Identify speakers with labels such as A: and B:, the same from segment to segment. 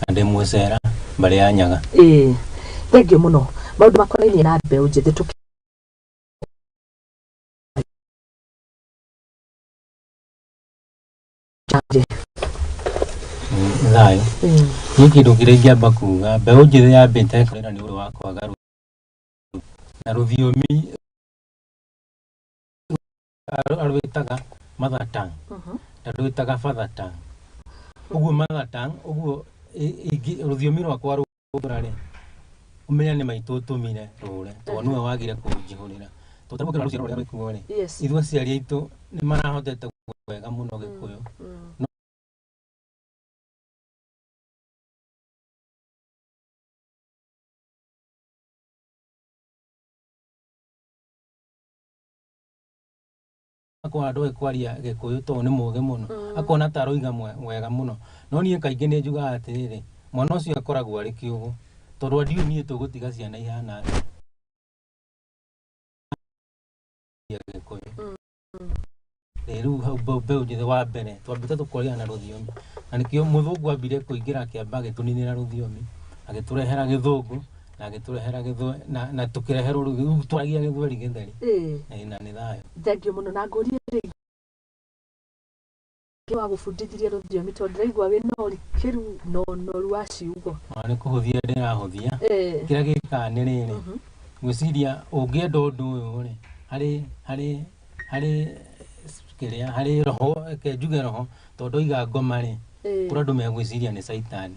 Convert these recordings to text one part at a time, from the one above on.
A: na ndĩ mũcera mbarĩ ya nyaga ĩĩ thengiũ
B: mũno maũndũ makonainie na mbeũ njĩthĩ tũkĩ
A: Change. Mm, thayo Mm. nĩ kĩndũ kĩrĩa ingĩamba kuga mbeũ njĩthĩ yambĩte kũrĩra nĩ ũndũ wa kwaga rũthiomi na rũthiomi arũ- arwĩtaga mother tongue ndarwĩtaga father tongue ũguo mother tongue ũguo ĩ- ingĩ rũthiomi rwakwa rũra rĩ ũmenya nĩ maitũ ũtũmire rũre tondũ nĩwe wagire kũnjihũrĩra tũtarũkĩra rũciaro rũrĩa rwĩkuo rĩ Yes. ithuĩ aciari aitũ nĩ marahotete gwĩka wega mũno gĩkũyũ Mm. akona ndoĩ kwaria gĩkũyũ tondũ nĩ mũgĩ mũno akona ta aroiga mwe- wega mũno no niĩ kaingĩ nĩ njugaga atĩrĩrĩ mwana ũcio akoragwo arĩ kĩũgũ tondũ ndiũĩ niĩ tũgũtiga ciana ihana atĩa ya gĩkũyũ Eh, rĩu hau mbe- mbeũ njĩthĩ wa mbere twambĩte tũkoria na rũthiomi na nĩkĩo mũthũngũ ambire kũingĩra akĩamba agĩtũninĩra rũthiomi agĩtũrehera gĩthũngũ na agĩtũrehera gĩthwe na, na tũkĩreherwo rĩu rĩu twaragia gĩthweri gĩtheri ĩĩ Eh, na nĩ thayũ thengio mũno na ngũrie
B: rĩngĩ Ngai wa gũbundithirie rũthiomi tondũ ndĩraigua wĩ na ũrikĩru na ũnoru wa ciugo ona nĩ kũhũthia
A: ndĩrahũthia Eh, kĩrĩa gĩkaga nĩ rĩrĩ mhm. ngwĩciria ũngĩenda ũndũ ũyũ rĩ harĩ harĩ harĩ kĩrĩa harĩ roho reke njuge roho tondũ oiga ngoma rĩ Eh, kũrĩ andũ megwĩciria nĩ caitani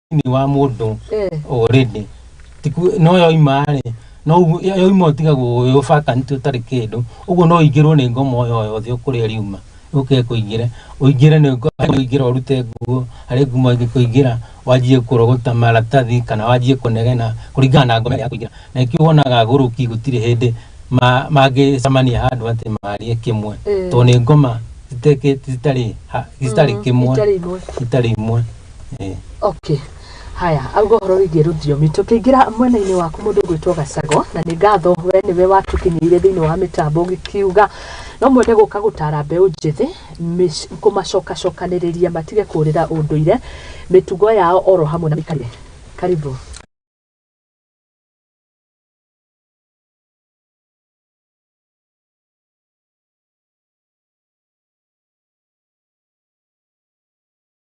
A: thĩinĩ wa mũndũ already Tiku- no yoima rĩ no ũguo- yo- yoima ũtigagwo ũyũ ũbakanĩtie ũtarĩ kĩndũ ũguo no ũingĩrwo nĩ ngoma o yothe ũkũrĩa riuma ũke kũingĩre ũingĩre nĩ ngo- ũingĩre ũrute nguo harĩ ngumo ĩngĩkũingĩra wanjie kũrogota maratathi kana wanjie kũnegena kũringana na ngoma ĩrĩa yakũingĩra na nĩkĩo wonaga agũrũki gũtirĩ hĩndĩ ma- mangĩcemania handũ atĩ marie kĩmwe tondũ nĩ ngoma citekĩ- citarĩ ha- citarĩ kĩmwe itarĩ imwe Eh. okay
B: haya auga ũhoro wĩgiĩ rũthiomi tũkĩingĩra mwena-inĩ waku mũndũ ũgwĩtwo gacago na nĩ ngatho we nĩwe watũkinyĩire thĩinĩ wa mĩtambo ũgĩkiuga no mwende gũka gũtara mbeũ njĩthĩ mĩc- kũmacokacokanĩrĩria matige kũrĩra ũndũire mĩtugo yao oro hamwe na mĩkarire karibu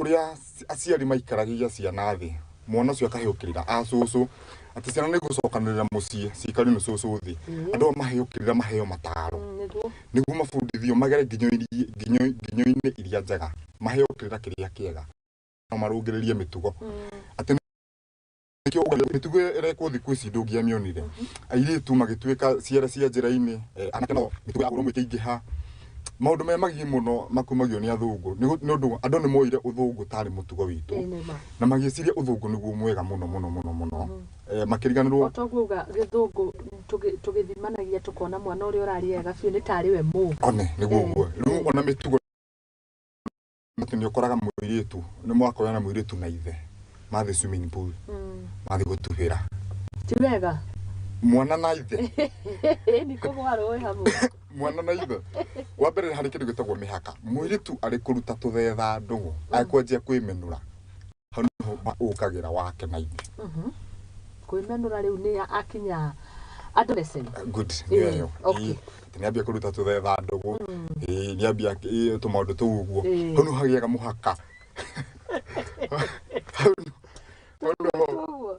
C: ũrĩa aciari maikaragia ciana thĩ mwana ũcio akahĩũkĩrĩra a cũcũ atĩ ciana nĩ gũcokanĩrĩra mũciĩ cikari nĩ cũcũ thĩ andũ ao mahĩũkĩrĩra maheo mataro nĩguo nĩguo mabundithio magere nginyo-inĩ- nginyo- nginyo-inĩ iria njega maheo kĩrĩra kĩrĩa kĩega no marũngĩrĩrie mĩtugo atĩ Nĩkĩo ũgakora mĩtugo ĩrekwo thikũ ici ndũngĩamĩonire airĩtu magĩtuĩka ciara cia njĩra-inĩ eh, anake nao mĩtugo ya ũrũmwe ĩkĩingĩha maũndũ me magigi mũno makumagio nĩ athũngũ nĩ gũ- nĩ ũndũ andũ nĩ moire ũthũngũ tarĩ mũtugo witũ Ĩĩ, nĩ ma. na magĩciria ũthũngũ nĩguo mwega mũno mũno mũno mũno Eh, makĩriganĩrwo otoguo uga gĩthũngũ
B: tũgĩ- tũgĩthimanagia tũkona mwana ũrĩa ũrarĩ ega biũ nĩ tarĩ we mũ one nĩguo ũguo
C: rĩu ona mĩtugo Mtu nĩ ũkoraga mũirĩtu nĩ mwakorana na mũirĩtu na ithe mathiĩ swimming pool Mm. mathiĩ gũtubĩra Ti wega.
B: mwana na
C: ithe Ni ko
B: gwarũĩ hamwe. mwana na ithe
C: wa mbere nĩ harĩ kĩndũ gĩtagwo mĩhaka mũirĩtu arĩ kũruta tũthetha ndũgũ akwanjia kwĩmenũra hau nĩho ma- ũkagĩra wake na ithe Mhm. kwĩmenũra rĩu nĩ akinya adolescent good Ĩĩ, nĩyo ĩyo okay. Ĩĩ, atĩ nĩambia kũruta tũthetha ndũgũ Ĩĩ, nĩambia ĩĩ, tũmaũndũ tũu ũguo Ĩĩ. hau nĩho hagĩaga mũhaka Hau nĩ- hau nĩho- Ũguo.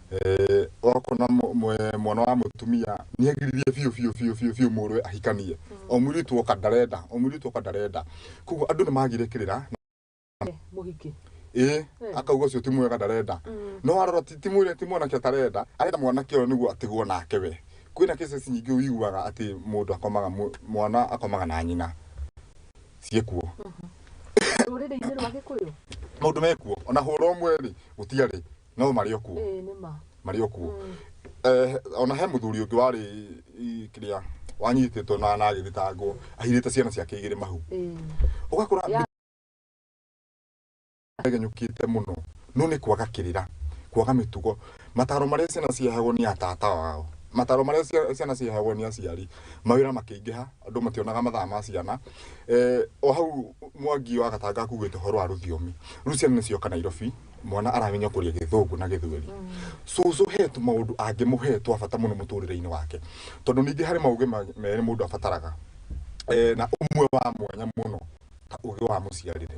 C: Eh, wakona mũ- mwe- mwana wa mũtumia nĩ agiririe biũ biũ biũ biũ biũ mũrũwe ahikanie o mũirĩtu oka ndarenda o mũirĩtu oka ndarenda koguo andũ nĩ magire kĩrĩra
B: mũhiki ĩ
C: akauga ũcio ti mwega ndarenda no warora ti ti mwĩre ti mwanake atarenda arenda mwanake ũyũ nĩguo atigwo nake we kwĩna cases nyingĩ wiguaga atĩ mũndũ akomaga mũ- mwana akomaga na nyina ciĩkuo rũrĩrĩ-inĩ
B: rwa gĩkũyũ maũndũ mekuo
C: ona hũra ũmwe rĩ gũtiarĩ no marĩ o kuo ĩĩ nĩ ma marĩ o
B: kuo
C: Eh, ona he mũthuri ũngĩ warĩ i- kĩrĩa wanyitĩtwo na na agĩthitangwo ahirĩte ciana ciake igĩrĩ mahu ĩĩ ũgakora Ya- genyũkĩte mũno no nĩ kwaga kĩrĩra kwaga mĩtugo mataro marĩa ciana ciahagwo nĩ atata wao mataro marĩa cia- ciana ciahagwo nĩ aciari mawĩra makĩingĩha andũ mationaga mathaa ma ciana Eh, o hau mwangi wa gatanga akuĩte ũhoro wa rũthiomi rĩu ciana nĩcioka nairobi mwana aramenya kuria githungu na githweri cucu he tu maundu angi muhe twa bata muno muturire-ini wake tondu ningi hari maugi ma- meri mundu abataraga eh, na umwe wa mwanya muno ta ugi wa muciarire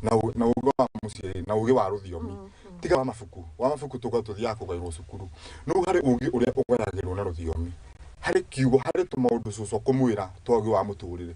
C: na u- na ugi wa muciarire na ugi wa ruthiomi tiga wa mabuku wa mabuku tuga tuthiaga kugairwo cukuru no hari ugi uria ugayagirwo na ruthiomi hari kiugo hari tu maundu cucu kumwira twa ugi wa muturire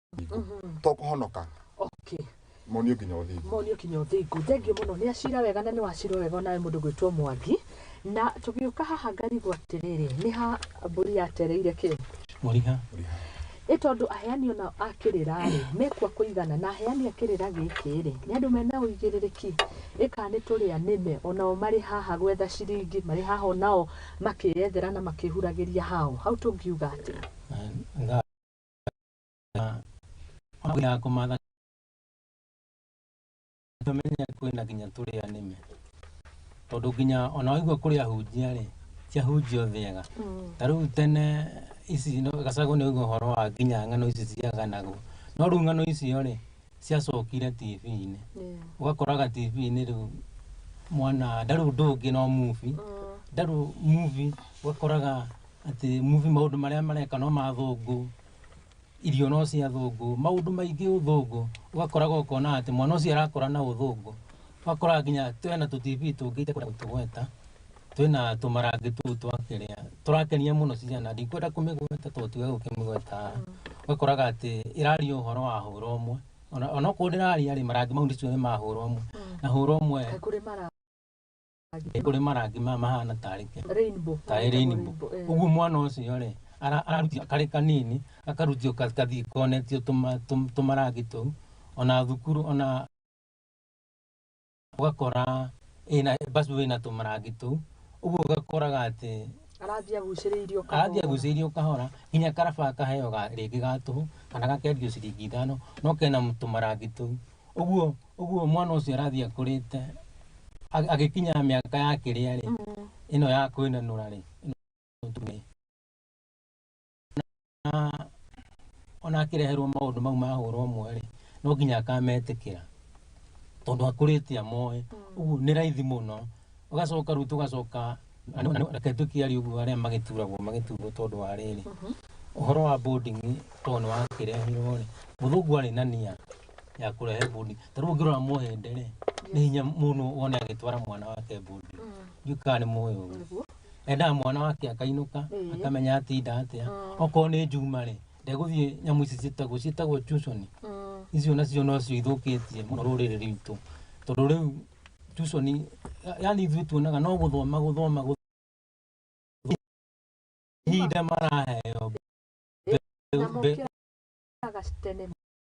C: tokũhonoka okay monio nginya ũthingu monio kinya ũthingu thengiũ mũno nĩ acira wega na nĩ wacira wega onawe mũndũ gwĩtwo mwangi na tũgĩũka haha ngarigwo atĩrĩrĩ nĩ ha mbũri yatereire kĩ mũriha
A: ĩ
B: tondũ aheani ona a kĩrĩra rĩ mekua kũigana na aheani a kĩrĩra gĩkĩ rĩ nĩ andũ mena ũigĩrĩrĩki ĩ kana nĩ tũrĩa nĩme onao marĩ haha gwetha ciringi marĩ haha onao makĩyethera na makĩhuragĩria hao hau tũngiuga atĩ
A: ya kumatha tumenya kwina nginya turi anime tondu nginya ona waigua kuri ahunjia ri ciahunjio thiega mm. ta riu tene ici no gacagu ni uigua horo wa nginya ng'ano ici ciaganagwo no riu ng'ano icio ri ciacokire tv-inĩ ũgakoraga tv-inĩ rĩu mwana ndarĩu ndũngĩ no movie mm. ndarĩu movie ũgakoraga atĩ movie maũndũ marĩa mareka no ma athũngũ, irio no cia athũngũ, maũndũ maingĩ ũthũngũ, ũgakoraga ũkona atĩ mwana ũcio arakũra na ũthũngũ, ũgakoraga nginya twĩna tũ TV tũngĩ itũkwenda gũtũgweta, twĩna tũmarange tũu twa kĩrĩa, tũrakenia mũno ciana, ndikwenda kũmĩgweta tondũ tiwega gũkĩmĩgweta haha, ũgakoraga atĩ ĩraria ũhoro wa hũra ũmwe, ona onokorwo ndĩraria-rĩ, marangi mau ndiciũĩ nĩ ma hũra ũmwe, na hũra ũmwe. nĩ kũrĩ marangi maya mahana tarĩ kĩ Rainbow. tarĩ rainbow Eh. ũguo mwana ũcio rĩ ara- ararutio karĩ kanini akarutio ka- kathiĩ konetio tũma- tũm- tũmarangi tũu ona thukuru ona ũgakora ĩna bacu ĩna tũmarangi tũu ũguo ũgakoraga atĩ Arathiĩ agucĩrĩirio kahora. arathiĩ agucĩirio kahora nginya karaba akaheo ga- rĩngĩ ga tũhũ kana gakendio ciringi ithano no kena tũmarangi tũu ũguo Ũguo mwana ũcio arathiĩ akũrĩte ag- agĩkinya mĩaka ya kĩrĩa rĩ ĩno ya kwĩnanũra rĩ ĩno tuge. Na ona akĩreherwo maũndũ mau ma hũra ũmwe rĩ no nginya akametĩkĩra tondũ akũrĩte amoĩ ũguo nĩ raithi mũno ũgacoka rĩu tũgacoka na- na- na- reke tũkiarie ũguo arĩa magĩturagwo magĩturwo tondũ wa rĩrĩ ũhoro wa boarding tondũ nĩ wakĩrehirwo rĩ mũthũngũ arĩ na nia ya kũrehe bundi ta rĩu ũngĩrora mũhĩndĩ rĩ nĩ hinya mũno wone agĩtwara mwana wake bundi ndiũ kana nĩ mũĩ ũguo Nĩguo. endaga mwana wake akainũka Ĩĩ. akamenya atinda atĩa Mm. okorwo nĩ njuma rĩ ndegũthiĩ nyamũ ici ciĩtagwo ciĩtagwo tuconi Mm. icio nacio nocio ithũkĩtie mũno rũrĩrĩ rwitũ tondũ rĩu tuconi yani ithuĩ tuonaga no gũthoma gũthoma gũ- ihinda maraheo Na mokĩraga tene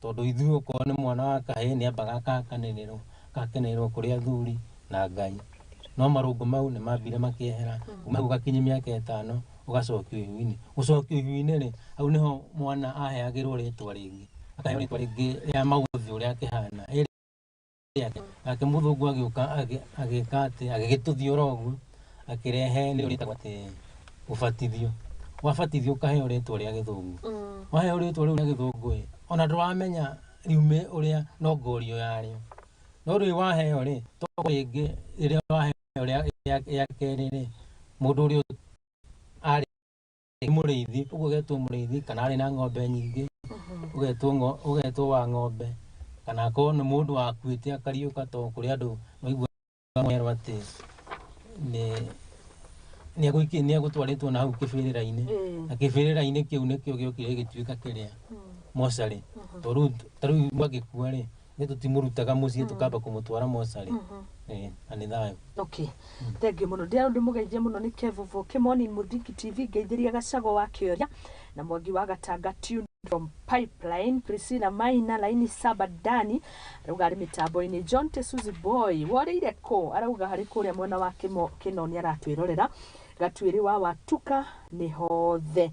A: Tondũ ithuĩ okorwo nĩ mwana wa kahĩĩ nĩ ambaga akakanĩrĩrwo, agakenererwo kũrĩ athuri na Ngai. No marũngũ mau nĩ mambire makĩehera, kuma hau gakinye mĩaka ĩtano ũgacokio ihu-inĩ. Gũcokio ihu-inĩ rĩ, hau nĩho mwana aheagĩrwo rĩtwa rĩngĩ, akaheo rĩtwa rĩngĩ rĩa maũthĩ ũrĩa akĩhana. yake akĩmũthũngwo agĩũka agĩ- agĩka atĩ agĩgĩtũthia oro ũguo akĩrehe nĩ ũrĩtagwo atĩ ũbatithio wabatithio ũkaheo rĩtwa rĩa gĩthũngũ Mm. waheo rĩtwa rĩu rĩa gĩthũngũ ĩ ona ndũramenya riume ũrĩa no ngorio yarĩo no rĩu waheo rĩ to rĩngĩ rĩrĩa waheo rĩa- rĩa rĩa kerĩ rĩ mũndũ ũrĩa arĩ nĩ mũrĩithi ũguo ũgetwo mũrĩithi kana arĩ na ng'ombe nyingĩ ũgetwo ngo- ũgetwo wa ng'ombe kana akorwo nĩ mũndũ wakuĩte akariũka to kũrĩ andũ maiguaerwo atĩ nĩ- nĩegũiki- nĩegũtwarĩtwo na hau kĩbĩrĩra-inĩ Mm. na kĩbĩrĩra-inĩ kĩu nĩkĩo gĩokire gĩgĩtuĩka kĩrĩa mocarĩ to rĩu ta rĩu mwagĩkua rĩ Ithuĩ tũtimũrutaga mũciĩ tũkamba kũmũtwara mocarĩ. Eh, na nĩ thayũ. Okay. Thengiũ
B: mũno. Ndĩrarwo ndĩmũgeithie mũno nĩ Kevuvo Kĩmoni Mũthingi TV, ngeithĩria Gacagũ wa Kĩoria na Mwangi wa Gatanga Tune from Pipeline, Priscilla Maina, Laini Saba Dani, arauga arĩ mĩtambo-inĩ, John Tesuzi Boy, worĩire kũ? Arauga harĩ kũrĩa mwena wa Kĩmo- Kĩnoni aratwĩrorera, Gatuĩrĩ wa Watuka nĩ hothe.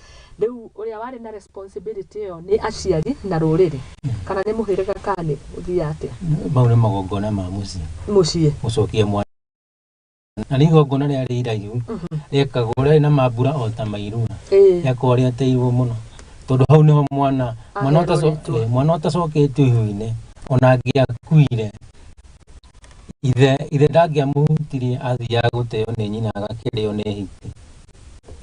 B: Rĩu ũrĩa warĩ na responsibility ĩyo nĩ aciari na rũrĩrĩ kana nĩ mũhĩrĩga kana nĩ ũthiaga atĩa? Mau nĩ magongona
A: ma mũciĩ. Mũciĩ. Gũcokia mwana. Na nĩ igongona rĩa rĩ iraihu mhm. rĩekagwo rĩarĩ na mambura o ta mairura rĩakorwo rĩateirwo mũno tondũ hau nĩho mwana mwana ũtacoketio ihu-inĩ ona angĩakuire ithe ithe ndangĩamũhutirie athiaga gũteo nĩ nyina agakĩrĩo nĩ hiti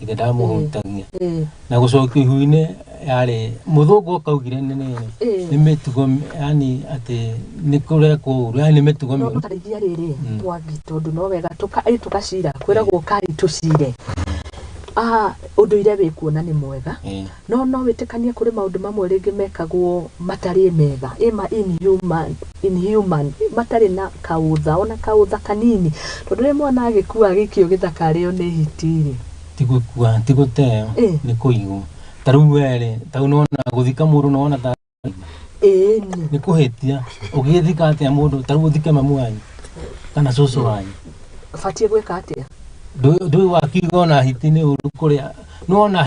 A: ithe ndamũhutagia Eh. na gũcokio ihu-inĩ yarĩ mũthũngũ ũkaugire nĩ nĩ- Eh. nĩ mĩtugo yani atĩ nĩ kũrekwo ũru yani nĩ mĩtugo no mĩũru tũtarĩithia rĩrĩ Mm.
B: mwangi tondũ no wega tũka ĩ tũgacira kwĩragwo kai tũcire Ah, ũndũire wĩ kuona nĩ mwega Eh. No no wĩtĩkanie kũrĩ maũndũ mamwe rĩngĩ mekagwo matariĩ mega, ĩ ma inhuman, inhuman, matarĩ na kaũtha, o na kaũtha kanini. Tondũ rĩrĩa mwana agĩkua agĩikio gĩthaka arĩo nĩ hiti-rĩ. Ti gũkua, ti
A: gũteo, Ĩ. nĩ kũigwo. Ta rĩu we-rĩ, ta rĩu nĩwona gũthika mũndũ nĩwona ta Ĩĩni. nĩ kũhĩtia. Ũngĩgĩthika atĩa mũndũ, ta rĩu ũthike mamu wanyu kana cũcũ wanyu? Batiĩ gwĩka
B: atĩa? Ndũĩ ndũĩ
A: wakiuga ona hiti nĩ ũru kũrĩa, nĩwona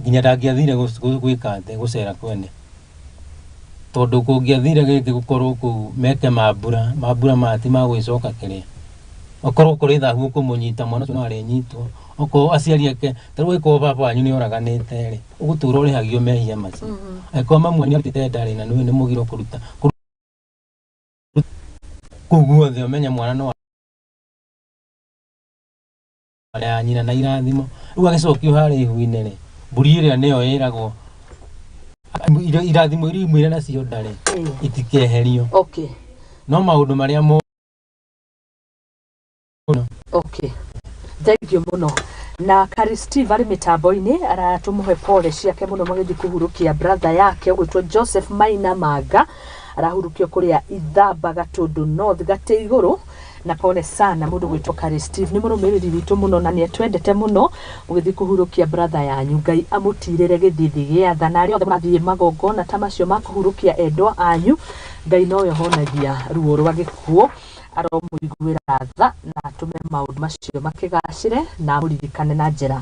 A: nginya ndangĩathire gwĩka atĩ gũcera kwene tondũ kũngĩathire gĩkĩ gũkorwo kũu meke mambura mambura maya ti magwĩcoka kĩrĩa okorwo kũrĩ thahu ũkũmũnyita mwana ũcio no arĩnyitwo okorwo aciari ake ta rĩu angĩkorwo baba wanyu nĩ oraganĩte rĩ ũgũtũra ũrĩhagio mehia macio angĩkorwo mamu wanyu arutĩte ndarĩ na nĩ mũgiro kũruta kũu guothe ũmenye mwana no Mbere ya nyina na irathimo. Rĩu agĩcokio harĩa ihu-inĩ rĩ, mbũri ĩrĩa nĩyo ĩragwo ira- irathimo iria imwĩre nacio ndarĩ itikeherio. okay No maũndũ marĩa mo okay
B: thengiũ mũno na kari steve arĩ mĩtambo-inĩ aratũmũhe pole ciake mũno magĩthiĩ kũhurũkia brother yake ũgwĩtwo joseph maina manga arahurũkio kũrĩa ithamba gatũndũ north gatĩ igũrũ Na pole sana mũndũ gwĩtwo Carey Steve nĩ mũrũmĩrĩri witũ mũno na nĩetwendete mũno mũgĩthiĩ kũhurũkia brother yanyu Ngai amũtirĩre gĩthithi gĩa tha na arĩa othe mũrathiĩ magongona ta macio ma kũhurũkia endwa anyu Ngai nowe ũhonagia ruo rwa gĩkuũ aromũiguĩra tha na atũme maũndũ macio makĩgacĩre na amũririkane na njĩra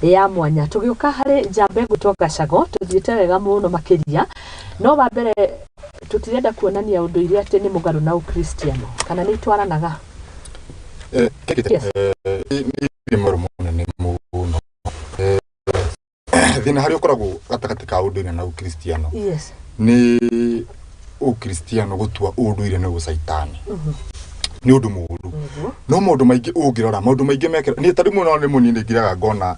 B: ya mwanya tũgĩũka harĩ njamba ĩgwĩtwo Gacago tũthiĩte wega mũno makĩria no wa mbere tũtirenda kuonania ũndũire atĩ nĩ mũgarũ na ũkristiano kana nĩ itwaranaga Eh, kĩndũ Yes. eh,
C: nĩ nĩ nĩ maũndũ manene mũno Eh, thĩna harĩa ũkoragwo gatagatĩ ka ũndũire na ũkristiano yes nĩ ũkristiano gũtua ũndũire nĩ ũcaitani nĩ ũndũ mũũru nĩguo no maũndũ maingĩ ũngĩrora maũndũ maingĩ mekĩra niĩ tari mũno nĩ mũnini ngiraga ngona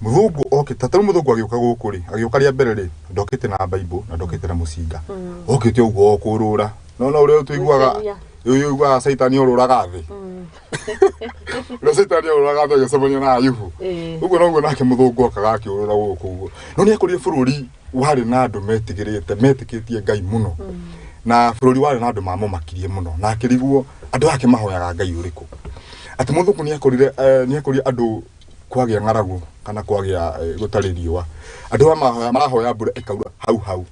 C: Mũthũngũ okĩte, tarĩu mũthũngũ agĩũka gũkũ rĩ, agĩũka rĩa mbere rĩ, ndokĩte na Bible na ndokĩte na mũcinga. Okĩte ũguo o kũrũra. No no ũrĩa tũiguaga Gwĩcemia. ũyũ ũiguaga caitani orũraga thĩ. Ũrĩa caitani orũraga thĩ agĩcemania na Ayubu. Ĩĩ. Ũguo noguo nake mũthũngũ okaga akĩũrũra gũkũ ũguo. No nĩ ekũrire bũrũri warĩ na andũ metigĩrĩte, metĩkĩtie Ngai mũno. Na bũrũri warĩ na andũ mamũmakirie mũno. Na akĩriguo andũ aya akĩmahoyaga Ngai ũrĩkũ. Atĩ mũthũngũ nĩ ekorire eh, nĩ ekorire andũ kwagĩa ng'aragu kana kwagĩa eh, gũtarĩ riũa andũ aya mahoya- marahoya mbura ĩkaura hau hau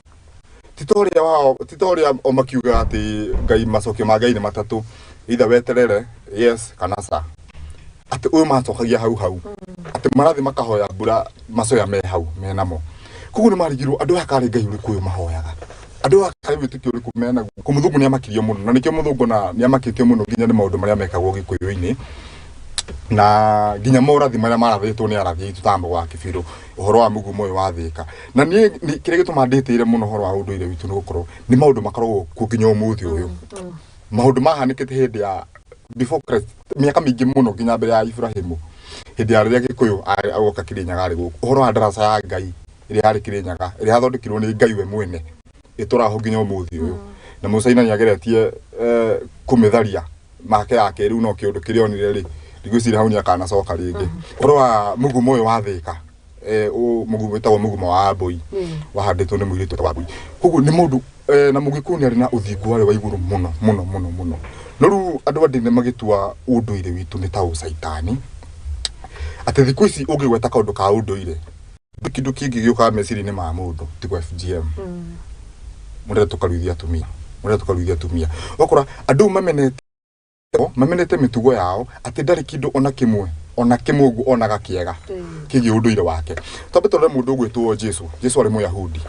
C: ti ta ũrĩa wao ti ta ũrĩa o makiuga atĩ ngai macokio ma ngai nĩ matatũ itha weterere yes kana sa atĩ ũyũ macokagia hau hau atĩ marathiĩ makahoya mbura macoya me hau me namo koguo nĩ marigirwo andũ aya karĩ ngai ũrĩkũ ũyũ mahoyaga andũ aya karĩ wĩtĩkio ũrĩkũ menaguo kũ mũthũngũ nĩ amakirio mũno na nĩkĩo mũthũngũ na nĩ amakĩtio mũno nginya nĩ maũndũ marĩa mekagwo gĩkũyũ-inĩ na nginya morathi marĩa marathĩtwo nĩ arathi aitũ ta mbogo wa kĩbirũ ũhoro wa mũgumo ũyũ wa thĩka na niĩ nĩ- kĩrĩa gĩtũma ndĩtĩire mũno ũhoro wa ũndũire witũ nĩ gũkorwo nĩ maũndũ makoragwo kuo nginya ũmũthĩ ũyũ maũndũ mahanĩkĩte hĩndĩ ya before Christ mĩaka mĩingĩ mũno nginya mbere ya Ibrahimu hĩndĩ ya rĩrĩa gĩkũyũ arĩ- agoka kĩrĩnyaga arĩ gũkũ ũhoro wa ndaraca ya Ngai ĩrĩa yarĩ kĩrĩnyaga ĩrĩa yathondekirwo nĩ Ngai we mwene ĩtũraho nginya ũmũthĩ ũyũ na mũcaina nĩ ageretie eh, kũmĩtharia make yake rĩu no kĩũndũ kĩrĩa onire rĩ ndigwĩciria hau nĩ akanacoka rĩngĩ ũhoro wa mũgumo ũyũ wa thĩka eh, ũ- mũgumo wĩtagwo mũgumo wa mbũi wahandĩtwo nĩ mũirĩtu wĩtagwo wa mbũi koguo nĩ mũndũ eh, na mũgĩkũyũ nĩ arĩ na ũthingu warĩ wa igũrũ mũno mũno mũno mũno no rĩu andũ a ndini magĩtua ũndũire witũ nĩ ta ũcaitani atĩ thikũ ici ũngĩgweta kaũndũ ka ũndũire Nĩ kĩndũ kĩngĩ gĩũkaga meciria-inĩ ma mũndũ tigo FGM mũrenda tũkaruithia atumia mũrenda tũkaruithia atumia ũgakora andũ mamenete mamenete mĩtugo yao atĩ ndarĩ kĩndũ ona kĩmwe ona kĩmwe ũguo onaga kĩega kĩgiĩ ũndũire wake twambe tũrore mũndũ ũgwĩtwo Jesu Jesu arĩ mũyahudi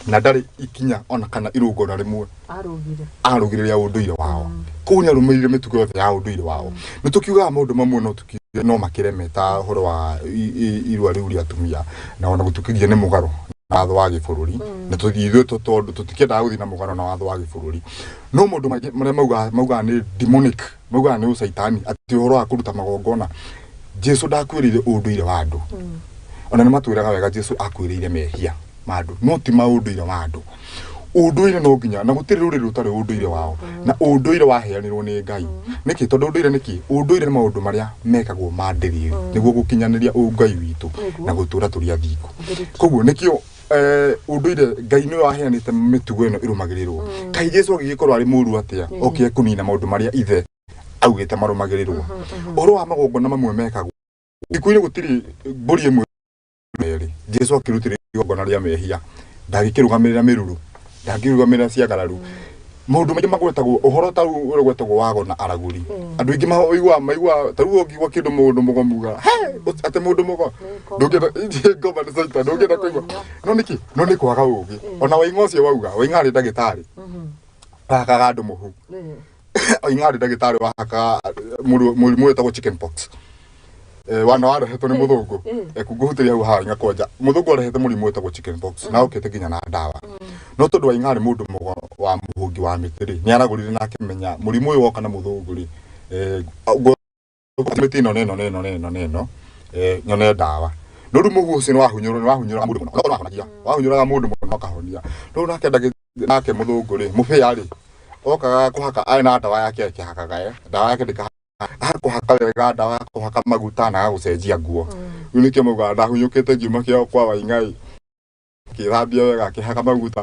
C: na ndarĩ ikinya ona kana irũngona rĩmwe arũgire arũgĩrĩria ũndũire wao koguo nĩ arũmĩrĩire mĩtugo yothe ya ũndũire wao nĩ tũkiugaga maũndũ mamwe no tũki no makĩreme ta ũhoro wa i- i- irua rĩu rĩa atumia na ona gũtukithia nĩ mũgarũ na watho wa gĩbũrũri na tũthiĩ ithuĩ tũ- tondũ tũtikĩendaga gũthiĩ na mũgarũ na watho wa gĩbũrũri no maũndũ maingĩ marĩa maugaga maugaga nĩ demonic maugaga nĩ ũcaitani atĩ ũhoro wa kũruta magongona jesu ndakwĩrĩire ũndũire wa andũ ona nĩ matwĩraga wega jesu akwĩrĩire mehia ma andũ no ti maũndũire wa andũ ũndũire no nginya na gũtirĩ rũrĩrĩ rũtarĩ ũndũire wao na ũndũire waheanirwo nĩ ngai nĩkĩ tondũ ũndũire nĩkĩ ũndũire nĩ maũndũ marĩa mekagwo ma ndĩrĩrĩ nĩguo gũkinyanĩria ũngai witũ na gũtũra tũrĩ athingu koguo nĩkĩo eh, ũndũire ngai nĩ waheanĩte mĩtugo ĩno ĩrũmagĩrĩrwo mm. kaĩ jesu agĩgĩkorwo arĩ mũru atĩa mm. okire kũnina maũndũ marĩa ithe augĩte marũmagĩrĩrwo mm-hmm, mm-hmm. ũhoro wa magongona mamwe mekagwo thikũ-inĩ gũtirĩ mbũri ĩmwe merĩ jesu akĩrutĩrĩria igongona rĩa mehia ndagĩkĩrũgamĩrĩra mĩruru ndangĩrũgamĩrĩra ciagararu maũndũ maingĩ magwetagwo ũhoro ta rĩu ũrĩa gwetagwo wago na aragũri andũ aingĩ maiguaga maiguaga ta rĩu ũngĩigua kĩndũ mũndũ mũgo muga atĩ mũndũ mũgo ndũngĩenda ĩĩ, ngoma nĩ caita ndũngĩenda kũigua no nĩkĩ no nĩ kwaga ũũgĩ ona waing'a ũcio wauga waing'a arĩ ndagĩtarĩ arakaga andũ mũhu oing'a arĩ ndagĩtarĩ wahaka mũrimũ mũrimũ wĩtagwo chicken pox Eh, wana warehetwo nĩ mũthũngũ Eh, kungũhutĩria hau haha nyakwanja mũthũngũ arehete mũrimũ wĩtagwo chicken pox na okĩte nginya na ndawa no tondũ waing'a arĩ mũndũ mũgo wa mũhũngi wa mĩtĩ rĩ nĩ aragũrire na akĩmenya mũrimũ ũyũ woka na mũthũngũ rĩ eh, ngo- mĩtĩ ĩno na ĩno na ĩno na ĩno na ĩno eh, nyone ndawa no rĩu mũhu ũcio nĩwahunyũrwo nĩwahunyũraga mũndũ mũno Ũgakorwo wahonagia. wahunyũraga mũndũ mũno akahonia rĩu nake ndagĩ- nake mũthũngũ rĩ mũbĩa rĩ okaga kũhaka arĩ na ndawa yake akĩhakaga eh, ndawa yake ndĩka akũhaka wega ndawa ya kũhaka maguta na agagũcenjia nguo rĩu nĩkĩo maugaga ndahunyũkĩte ngiuma kĩao kwa waing'ai akĩthambia wega akĩhaka maguta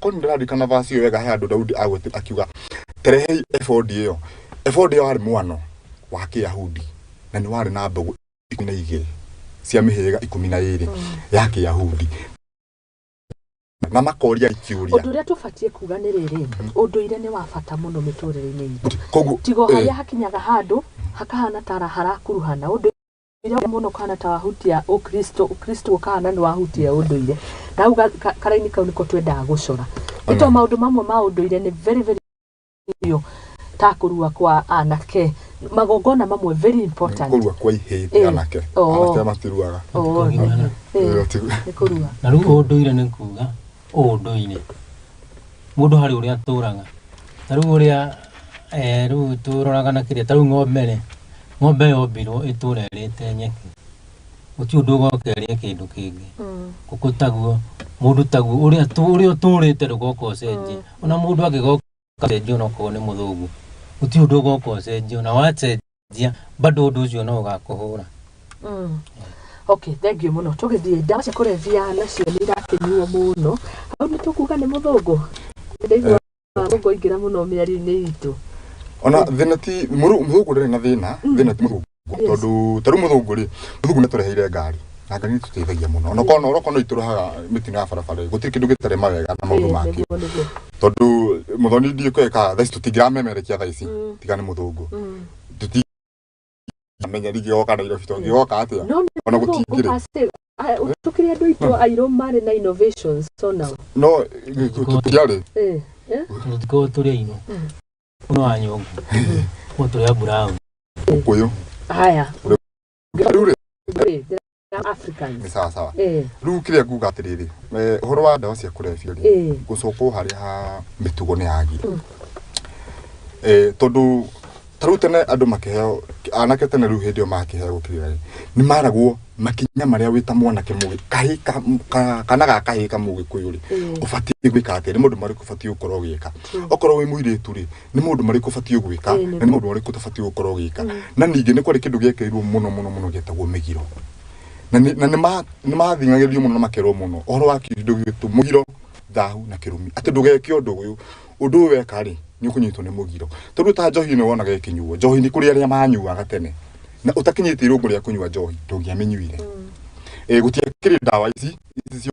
C: Ko nĩ ndĩraririkana vaci ĩyo wega he andũ Daudi agwetire akiuga, terehei ebodi ĩyo. Ebodi ĩyo warĩ mũano wa Kĩyahudi na nĩ warĩ na mbegũ ikũmi na igĩrĩ cia mĩhĩrĩga ikũmi na ĩrĩ ya Kĩyahudi na makoria ikiuria undu uria tubatie kuga
B: ni riri unduire ni wa bata muno miturire-ini itũ tigo haria hakinyaga handu hakahana tara harakuruhana undu Ũndũire ũrĩa mũna ũkahana ta wahutia ũkristo, ũkristo ũkahana nĩ wahutia ũndũire. Na hau ga- ka- karaini kau nĩko twendaga gũcora. Nĩ tondũ maũndũ mamwe ma ũndũire nĩ very very biũ ta kũrua kwa anake. Magongona mamwe very important. kũrua kwa ihĩndĩ Eh.
C: anake Oo. anake matiruaga Oo, eh, Ĩyo
B: ti- nĩ kũrua. na rĩu ũndũire nĩ
A: kuga ũndũire mũndũ harĩ ũrĩa atũraga ta rĩu ũrĩa eh, rĩu tũroraga na kĩrĩa ta rĩu ng'ombe rĩ ng'ombe yombirwo ĩtũra ĩrĩte nyeki gũtirĩ ũndũ ũgoka ĩrĩe kĩndũ kĩngĩ ngũkũ taguo mũndũ taguo ũrĩa tũ- ũrĩa ũtũrĩte ndũgoka ũcenjie ona mũndũ angĩgoka ũgacenjia onokorwo nĩ mũthũgu gũtirĩ ũndũ ũgoka ũcenjio na wacenjia bado ũndũ ũcio no ũgakũhũra Mm.
B: okay thank you mũno tũgĩthiĩ ndawa cia kũrebia nacio nĩ irakĩnyuo mũno hau nĩ tũkuga nĩ mũthũngũ ndaigua mũthũngũ aingĩra mũno mĩario-inĩ itũ ona thina
C: ti mũru- mũthũngũ ndarĩ na thina thina ti mũthũngũ tondu taru muthungu ri muthungu ni tureheire ngari na ngari ni tuteithagia muno ona kono oro kono ituruhaga mitino ya barabara gutiri kindu gitare mawega na maundu mangĩ tondu muthoni ndie kweka thaici tutingiramemerekia thaici tiga ni muthungu tutimenya ringi goka nairobi tongigoka atia ona gutingiri tukiri andu
B: itu airo mari na innovations so now no
C: tutiari eh
A: tukorwo turi aino Uno wa nyongo. Moto ya brown. Uko yo.
B: Haya.
C: Ule.
B: Africans. Ni sawa sawa.
C: Eh. Rĩu kĩrĩa nguga atĩrĩrĩ, eh, ũhoro wa ndawa cia kũrebia rĩ, eh. gũcokwo harĩa ha mĩtugo nĩ yagire. Mm. Eh, tondũ ta rĩu tene andũ makĩheo anake tene rĩu hĩndĩ ĩyo makĩheo gũkĩrĩra rĩ nĩ maragwo makinya marĩa wĩ ta mwanake mũgĩ kahĩ kana ga kahĩ ka mũgĩkũyũ rĩ mm. ũbatiĩ gwĩka atĩa nĩ maũndũ marĩkũ ũbatiĩ gũkorwo ũgĩka okorwo wĩ mũirĩtu rĩ nĩ maũndũ marĩkũ ũbatiĩ gwĩka Ĩĩ, nĩ na nĩ maũndũ marĩkũ ũtabatiĩ gũkorwo ũgĩka na ningĩ nĩ kwarĩ kĩndũ gĩekĩrirwo mũno mũno mũno gĩetagwo mĩgiro na nĩ na nĩ ma- nĩ mathing'agĩrĩrio mũno na makerwo mũno ũhoro wa kĩndũ gĩtũ mũgiro thahu na kĩrumi atĩ ndũgeke ũndũ ũyũ ũndũ ũyũ weka rĩ nĩ ũkũnyitwo nĩ mũgiro tondũ ta njohi ĩno wonaga ĩkĩnyuo njohi nĩ kũrĩ arĩa manyuaga tene na ũtakinyĩtie irũngũ rĩa kũnyua njohi ndũngĩamĩnyuire Eh, gũtiakĩrĩ ndawa ici ici cia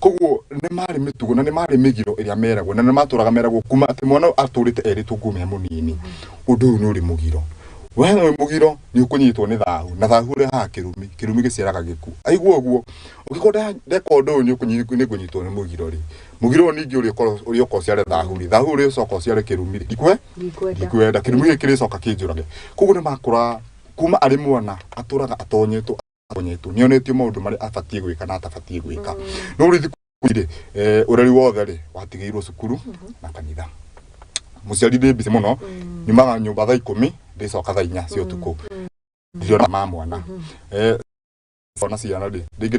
C: Koguo nĩ maarĩ mĩtugo na nĩ maarĩ mĩgiro ĩrĩa meragwo na nĩ matũraga meragwo kuma atĩ mwana ũyũ atũrĩte erĩtwo ngume mũnini ũndũ ũyũ nĩ ũrĩ mũgiro we wĩ mũgiro nĩ ũkũnyitwo nĩ thahu na thahu ũrehaga kĩrumi kĩrumi gĩciaraga gĩkuũ aigua ũguo ũngĩkorwo nda- ndeka ũndũ ũyũ nĩ ũkũnyi- nĩ ngũnyitwo nĩ mũgiro rĩ mũgiro ũyũ ningĩ ũrĩa ũkorwo- ũrĩa ũka ũciare thahu rĩ thahu ũrĩa ũcoka ũciare kĩrumi rĩ ikwe Ndikwenda. ndikwenda kĩrumi gĩkĩ kĩrĩcoka kĩnjũrage koguo nĩ makũraga kuma arĩ mwana atũraga atonyetwo kũnyitwo nĩ onetio maũndũ marĩa abatiĩ gwĩka na atabatiĩ gwĩka mm. no rĩu thikũ rĩ eh, ũreri wothe rĩ watigĩirwo cukuru mm-hmm. na kanitha muciari ndä mbici må no mm. nyumaga nyå mba tha ikå mi ndä coka tha inya cia å tukå mm. ndiona ma mwana mm-hmm. eh, ona ciana rä rä ngä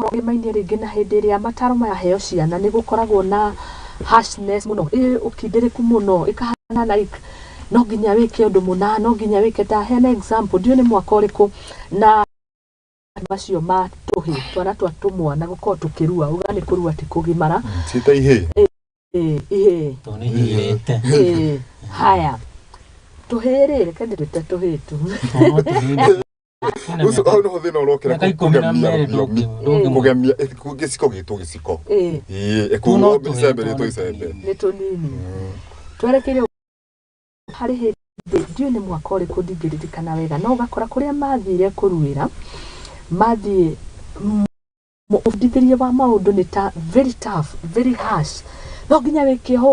B: Maũndũ-inĩ rĩngĩ na hĩndĩ ĩrĩa mataro maraheo ciana nĩ gũkoragwo na harshness mũno, ĩ ũkindĩrĩku mũno, ĩkahana like no nginya wĩke ũndũ mũna, no nginya wĩke. Ta hena example, ndiũĩ nĩ mwaka ũrĩkũ na macio ma tũhĩ, twana twa tũmwana gũkorwo tũkĩrua, uga nĩ kũrua ti kũgimara. Ciĩ ta ihĩĩ. Ĩĩ, ihĩĩ.
C: Tondũ nĩ ihĩĩte.
A: Ĩĩ, haya.
B: Tũhĩĩ rĩ, reke ndĩtwĩte tũhĩĩ tu.
C: Ina ucio miaka- hau nĩho thĩna ũrokĩra miaka ikũmi na kũgemia merĩ rũthiomi ndũngĩ- kũgemia eh, kũ- gĩciko gĩtwo gĩciko Ĩĩ, Ĩĩ, Tũno ĩkuo tũhĩtwo icembe rĩtwo nĩ icembe tũnini. nĩ tũnini
B: twerekeire harĩ hĩndĩ ndiũĩ nĩ mwaka ũrĩkũ ndingĩririkana wega no ũgakora kũrĩa mathire kũruĩra mathiĩ m- ũbundithĩrie wa maũndũ nĩ ta very tough, very harsh no nginya wĩkĩohwo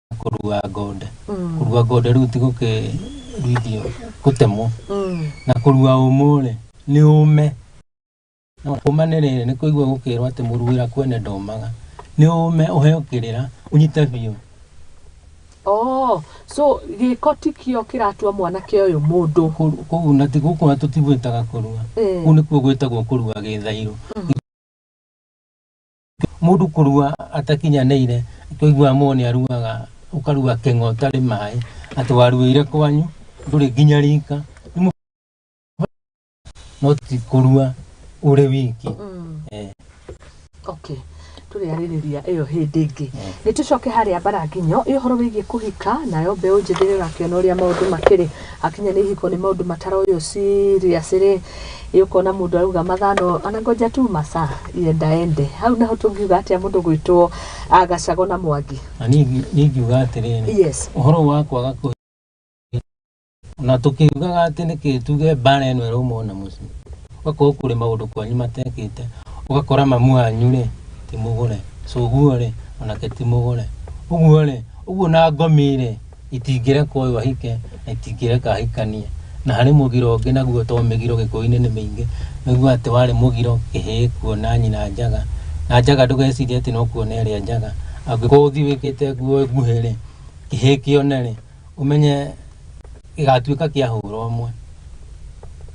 A: kũrua ng'onde Mm. kũrua ng'onde rĩu ti gũkĩruithio gũtemwo Mm. na kũrua ũmũ rĩ nĩ ũme No, ũma nĩ rĩrĩ nĩ kũigua gũkĩrwo atĩ mũruĩra kwene ndomaga nĩ ũme ũheo kĩrĩra ũnyite biũ Oh,
B: so gĩko ti kĩo kĩratua mwanake ũyũ mũndũ Kũ- kũu na ti gũkũ
A: na tũtigwĩtaga kũrua Eh. kũu nĩkuo gwĩtagwo kũrua gĩthairũ mũndũ kũrua atakinyanĩire twaigua mũndũ nĩ aruaga ũkarua kĩng'o ũtarĩ maĩ atĩ waruĩire kwanyu ndũrĩ nginya rika Nĩ mũ- no ti kũrua ũrĩ wiki Eh,
B: okay tũrĩarĩrĩria ĩyo hĩndĩ ĩngĩ nĩ tũcoke harĩa mbarakinyo ĩ ũhoro wĩgiĩ kũhika nayo mbeũ njĩthĩ nĩ ũrakĩona ũrĩa maũndũ makĩrĩ akinya nĩ ihiko nĩ maũndũ mataroywo serious rĩ Ĩ ũkona mũndũ arauga mathaa no anangoja tu masaa yenda ende hau naho tũngiuga atĩa mũndũ gwĩtwo ah, gacago na mwangi na ningĩ ningiuga
A: atĩrĩrĩ yes ũhoro wa
B: kwaga
A: kũ na tũkiugaga atĩ nĩkĩ tuge mbara ĩno ĩrauma ona mũciĩ ũgakorwo kũrĩ maũndũ kwanyu matekĩte ũgakora mamu wanyu rĩ ti mũgũre coguo rĩ onake ti mũgũre ũguo rĩ ũguo na ngomi rĩ Itingĩrekwo ũyũ ahike na itingĩreka ahikanie. Na harĩ mũgiro ũngĩ naguo to mĩgiro Gĩkũyũ-inĩ nĩ mĩingĩ. Nĩguo atĩ warĩ mũgiro kĩhĩĩ kuona nyina njaga. Na njaga ndũgecirie atĩ no kuona ĩrĩa njaga. Angĩkorwo ũthiĩ wĩkĩte nguo nguhĩ rĩ, kĩhĩĩ kĩone rĩ, ũmenye gĩgatuĩka kĩa hũra ũmwe.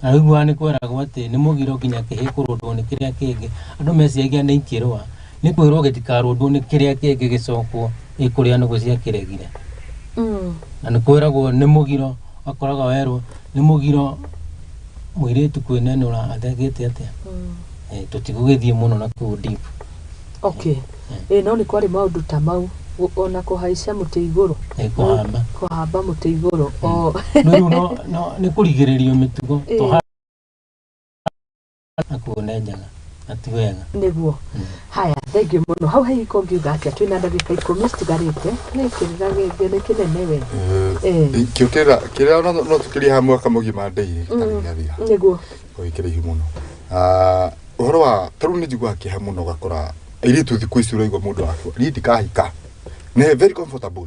A: Na ũiguaga nĩ kweragwo atĩ nĩ mũgiro nginya kĩhĩĩ kũrũndwo nĩ kĩrĩa kĩngĩ. Andũ meciragia nĩ ikĩrũa. Nĩ kwĩrwo gĩtikarũndwo nĩ kĩrĩa kĩngĩ gĩcokwo ĩ kũrĩa nũgũ ciakĩregire. Mm. Na nĩ kwĩragwo nĩ mũgiro akoraga werwo nĩ mũgiro mũirĩtu kwĩnenũra athegĩte atĩa. Mm. Eh, Tũtigũgĩthiĩ mũno na kũu deep.
B: Okay. Ĩ no nĩ kwarĩ maũndũ ta mau Gu- ona kũhaicia mũtĩ igũrũ. Eh, kũhamba. Kũhamba mũtĩ igũrũ. O. No rĩu no-
A: no- nĩ kũrigĩrĩrio mĩtugo. Ĩĩ. Tũha- na kuunenjaga na ti wega nĩguo
B: haya thengiũ mũno hau hahiko ngiuga atĩa twĩ na ndagĩka ikũmi citigarĩte nĩ kĩrĩra gĩkĩ nĩ kĩnene we Eh. kĩũkĩra kĩrĩa
C: no- no tũkĩrie ha mwaka mũgima ndĩirĩ tarĩgathia nĩguo
B: ũgĩkĩrĩ ihu mũno
C: Ah, ũhoro wa tarĩu nĩ njiguaga kĩeha mũno gakora airĩtu thikũ ici ũraigua mũndũ wakwa niĩ ndikahika nĩ very comfortable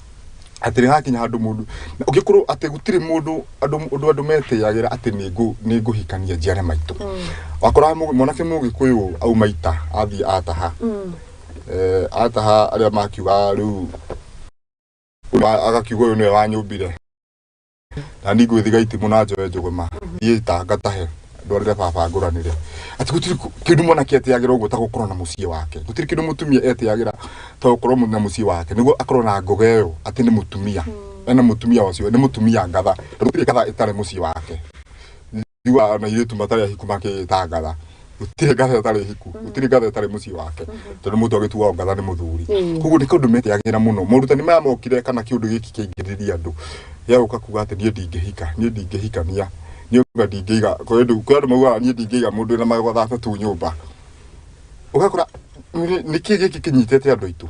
C: atĩ nĩ hakinya handũ mũndũ na ũngĩkorwo atĩ gũtirĩ mũndũ andũ ũndũ andũ metĩyagĩra atĩ nĩ ngũ nĩ ngũhikania njiare maitũ wakoraga mũgĩ- mwanake mũgĩkũyũ auma ita athiĩ ataha eh, ataha arĩa makiuga rĩu wa- agakiuga ũyũ nĩwe wanyũmbire na ni ngwithiga itimũ na njoe njũgũma thiĩ tanga tahe ndwarĩre baba ngũranĩre ati gũtirĩ kũ- kĩndũ mwanake etĩagĩra ũguo ta gũkorwo na mũciĩ wake gũtirĩ kĩndũ mũtumia etĩagĩra ta gũkorwo mu- na mũciĩ wake nĩguo akorwo na ngoga ĩyo atĩ nĩ mũtumia ena mũtumia ũcio nĩ mũtumia ngatha tondũ gũtirĩ ngatha ĩtarĩ mũciĩ wake tigwa ona iritu matari ahiku makitangatha gutire ngatha tari hiku gutire ngatha tari mucii wake tondu mutu agituwa ngatha ni muthuri koguo ni kundu metiagira muno morutani maya mokire kana kiundu giki kiingiriria andu ya uka kuga ati nie ndingihika nie ndingihikania nie uga ndingiga kwa andu kwa andu mauga nie ndingiga mundu na magotha tu nyumba ugakora niki giki kinyitete andu aitu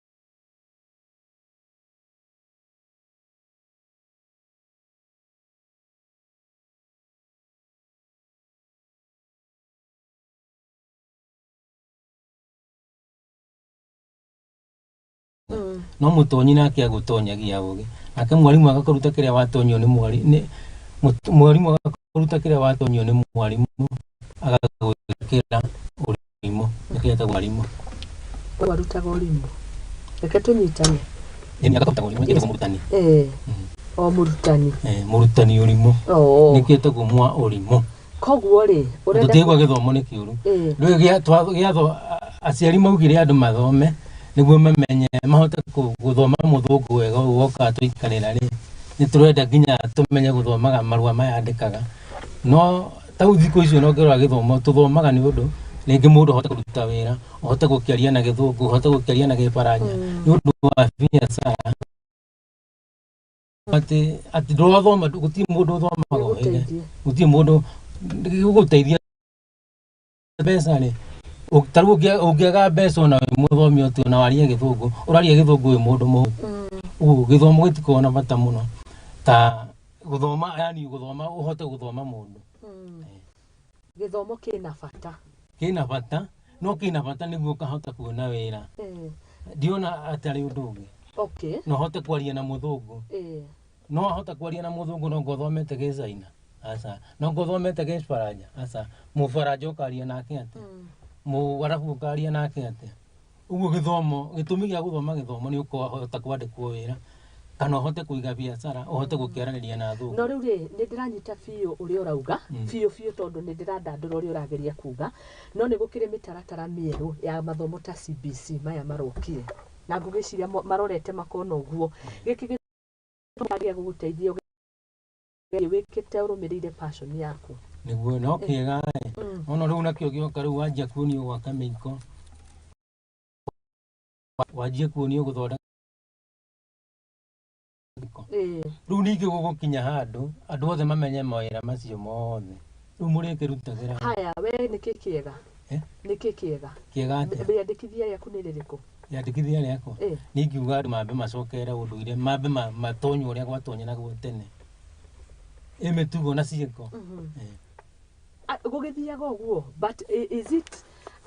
A: no mũtonyi nake agũtonyagia ũgĩ nake mwarimũ agakũruta kĩrĩa watonyio nĩ mwari- nĩ- mũt- mwarimũ agakũruta kĩrĩa watonyio nĩ mwarimũ agagwĩkĩra Mũrimũ. Nĩkĩ etagwo mwarimũ? We warutaga
B: ũrimũ. Reke tũnyitane. Ĩĩ, nĩ akarutaga
A: ũrimũ. Nĩkĩ etagwo mũrutani? Ee, Mhm. o
B: mũrutani. Ĩĩ, mũrutani ũrimũ.
A: Oo. Nĩkĩ etagwo mwa ũrimũ? Koguo rĩ,
B: ũrenda... Tũtigwa gĩthomo nĩ
A: kĩũru. Ĩĩ. Rĩu gĩa- twa- gĩatho a- aciari maugire andũ mathome nĩguo mamenye mahote kũ- gũthoma mũthũngũ wega ũguo wokaga twaikarĩra rĩ nĩ tũrenda nginya tũmenye gũthomaga marũa maya andĩkaga no ta rĩu thikũ icio no ngĩrora gĩthomo tũthomaga nĩ ũndũ rĩngĩ mũndũ ahote kũruta wĩra ũhote gũkĩaria na gĩthũngũ ũhote gũkĩaria na gĩbaranja mm. nĩ ũndũ wa biacara atĩ atĩ ndũrathoma gũtirĩ mũndũ ũthomaga ũhĩge gũtirĩ mũndũ gũgũteithia mbeca rĩ ũ- ta rĩu ũngĩa- ũngĩaga mbeca ona wĩ mũthomi ũtĩ ona warie gĩthũngũ ũraria gĩthũngũ wĩ mũndũ mũhũ ũguo gĩthomo gĩtikoragwo na bata mũno ta gũthoma yani gũthoma ũhote gũthoma mũndũ
B: gĩthomo kĩna bata
A: kĩna bata no kĩna bata nĩguo ũkahota kuona wĩra Eh, ndiona atarĩ ũndũ ũngĩ okay no hote kwaria na mũthũngũ eh, no wahota kwaria na muthungu no ngothomete gi China asa no ngothomete gi Faranja asa mufaranja ukaria nake atia mu arabu ukaria nake atia uguo githomo gitumi gia guthoma githomo ni ukahota kwandikwo wira kana uhote kuiga biacara uhote gukiaraniria na athungu no rĩu rĩ nĩ ndĩranyita
B: biũ ũrĩa ũrauga biũ biũ tondũ nĩ ndĩrandandũra ũrĩa ũrageria kuga no nĩ gũkĩrĩ mĩtaratara mĩerũ ya mathomo ta CBC maya marokire na ngũgĩciria mo- marorete makona ũguo gĩkĩ gĩ- Nĩguo magĩrĩria gũgũteithia ũgerie wĩkĩte ũrũmĩrĩire passion yaku. niguo no kiega
A: eh. Mm. ona rä u nakio gioka rä u wanjia kuonio gwaka mä iko wanjia kuonio gå thondeka Ĩĩ. rä u ningä gå gå kinya handå andå othe mamenye mawä ra macio mothe rä u må rä kä rutagä ra Haya, we nĩkĩ
B: kĩega? Eh? Nĩkĩ kĩega? kä ga atä Wĩyandĩkithia
A: rĩaku nĩ rĩrĩkũ?
B: yandĩkithia rĩakwa Eh.
A: nĩ ingiuga andũ mambe macokere ũndũire mambe ma- matonye ũrĩa gwatonye naguo tene ĩ mĩtugo na ciĩko Eh. Ah,
B: gũgĩthiaga ũguo but i- is it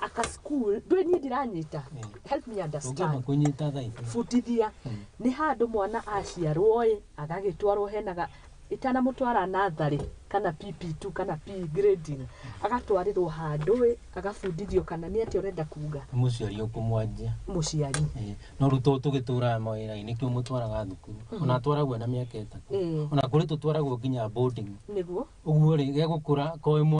B: aka school ndwĩ niĩ ndiranyita Eh. help me tũngĩamba understand kũnyita thaitũ butithia nĩ handũ mwana aciarwo ĩ agagĩtwarwo henaga itanamũtwara natharĩ kana PP2 kana P grading agatwarĩrwo handũ ĩ agabundithio kana nĩ atĩa ũrenda kuga Nĩ mũciari ũkũmwanjia
A: mũciari Eh,
B: no rĩu to
A: tũgĩtũraga mawĩra nĩkĩo mũtwaraga thukuru ona atwaragwo na mĩaka ĩtatũ Eh. ona kũrĩ tũtwaragwo nginya boarding nĩguo
B: ũguo
A: rĩ gegũkũra koĩ mwa-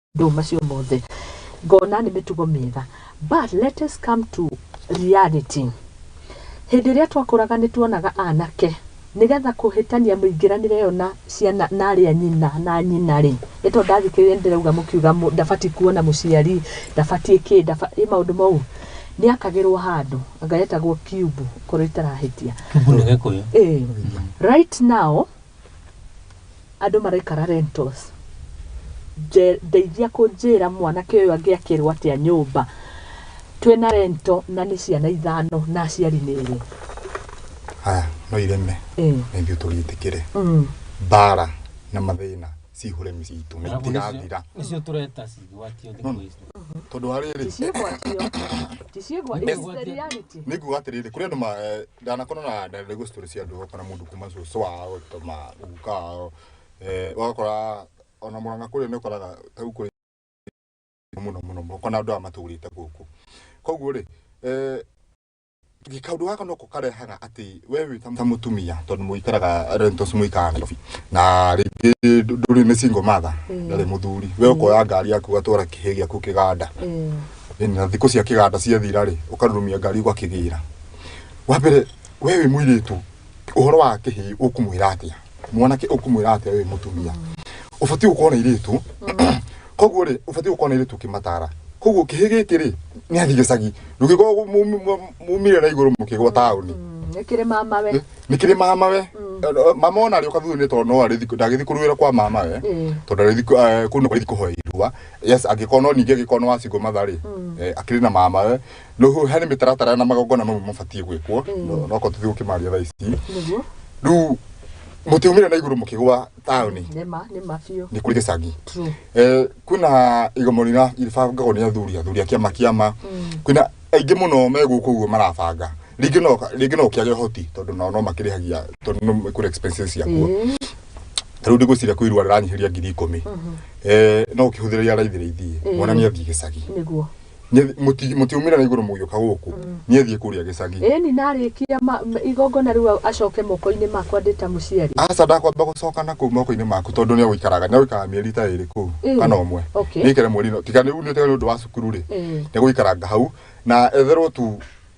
B: maũndũ macio mothe ngona nĩ mĩtugo mĩega but let us come to reality hĩndĩ ĩrĩa twakũraga nĩ tuonaga anake nĩgetha kũhĩtania mũingĩranĩre yo na ciana na arĩa nyina na nyina rĩ nĩ tondũ ndathikĩrĩria nĩ ndĩrauga mũkiuga mũ- ndabatiĩ kuona mũciari ndabatiĩ kĩ ndaba- ĩ maũndũ mau nĩ akagĩrwo handũ ngaretagwo kiubu korwo itarahĩtia Kibu nĩ gĩkũyũ.
A: Eh, right
B: now Andũ maraikara rentals. Ndeithia kũnjĩra mwanake ũyũ angĩakĩrwo atĩa nyũmba twĩna rento na nĩ ciana ithano na aciari nĩ erĩ.
C: Haya no ireme na ithuĩ tũgĩtĩkĩre mm. mbara na mathĩna cihũre mĩciĩ itũ na itigathira nĩcio tũreta
A: cigwatio tondũ wa rĩrĩ
B: nĩkuga atĩrĩrĩ kũrĩ
C: andũ eh, ndanakorwo na ndarĩ gũ story cia andũ kana mũndũ kuma cũcũ wao toma guka wao eh wakora ona mũranga kũrĩa nĩ ũkoraga ta rĩu kũrĩ mũno mũno mũno kana andũ aya matũrĩte gũkũ koguo rĩ eh kaundu gaka noko karehaga atä we wä ta mutumia tondu muikaraga rentos muikaraga Nairobi na ringi nduri ni single mother ndari muthuri we ukoya ngari yaku ugatwara kihe giaku kiganda na thiku cia kiganda ciathira ri ukarurumia ngari ugakigira wa mbere we wĩ mũirĩtu ũhoro wa kĩhĩ ũkũmwĩra atĩa mwanake ũkũmwĩra atĩa we wĩ mũtumia ũbatiĩ gũkorwo na irĩtu koguo rĩ ũbatiĩ gũkorwo na irĩtu ũkĩmatara koguo kĩhĩ gĩkĩ rĩ nĩ athi gĩcagi ndũngĩkorwo mu- mu- mumire na igũrũ mũkĩgwa taũni nä kä rä mama we
B: nä kä rä mama we
C: mama ona rä å kathutha nä tondå no ndagä thi kå rå ä ra kwa mama we Ĩĩ. tondå ndagä thi kå nä kå hoe irua yes angä korwo no ningä angä korwo nä wacingwo matharä akä rä na mama we no ho harä mä taratara na magongona mamwe mabatiä gwä kwo no korwo tå thiä gå kä maria thaa ici nĩguo rä u må tä å mä rä na igå rå må kä gwa taåni nĩ ma nĩ ma biũ
B: nä kå rä gä cangi True.
C: Eh, kwina igomo rina iribangagwo ni athuri athuri akiama kiama kwina aingi muno me guku guo marabanga ringi no ringi no kiage hoti tondu nao no makirihagia tondu no kuri expenses yakuo Ĩĩ, tariu ndigwiciria kwi irua riranyihiria ngiri ikumi eh no ukihuthiria raithi raithi Ĩĩ. mwana ni athii gicagi nĩguo Nyie-
B: mũti-
C: mũtiumĩra na igũrũ mũgĩũka gũkũ niĩ thiĩ kũrĩa gĩcagi ĩni narĩkia
B: ma- ma- igongona rĩu a- acoke moko-inĩ makwa ndĩ ta mũciari aca ndakwamba gũcoka
C: na kũu moko-inĩ maku tondũ nĩ agũikaraga nĩ agũikaraga mĩeri ta ĩrĩ kũu Mm. kana ũmwe Okay. nĩikare mweri no tiga nĩ unĩte nĩ ũndũ wa cukuru rĩ Eh. nĩ gũikaranga hau na etherwo tu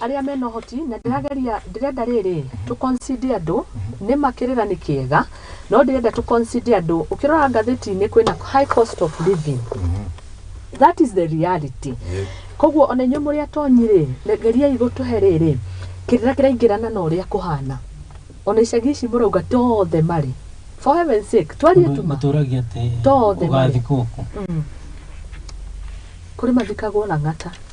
C: arĩa mena ũhoti
B: na ndĩrageria ndĩrenda rĩrĩ tũ consider andũ nĩma kĩrĩra nĩ kĩega no ndĩrenda tũ consider andũ ũkĩrora ngathĩti-inĩ kwĩna high cost of living that is the reality koguo ona inyuĩ mũrĩ atonyi rĩ na geriai gũtũhe rĩrĩ kĩrĩra kĩraingĩrana na ũrĩa kũhana ona icagi ici mũrauga tothe marĩ for heaven's sake twarie tuma mũtũragia atĩ
A: Tothe marĩ. ũgathikwo
B: kũ kũrĩ mathikagwo lang'ata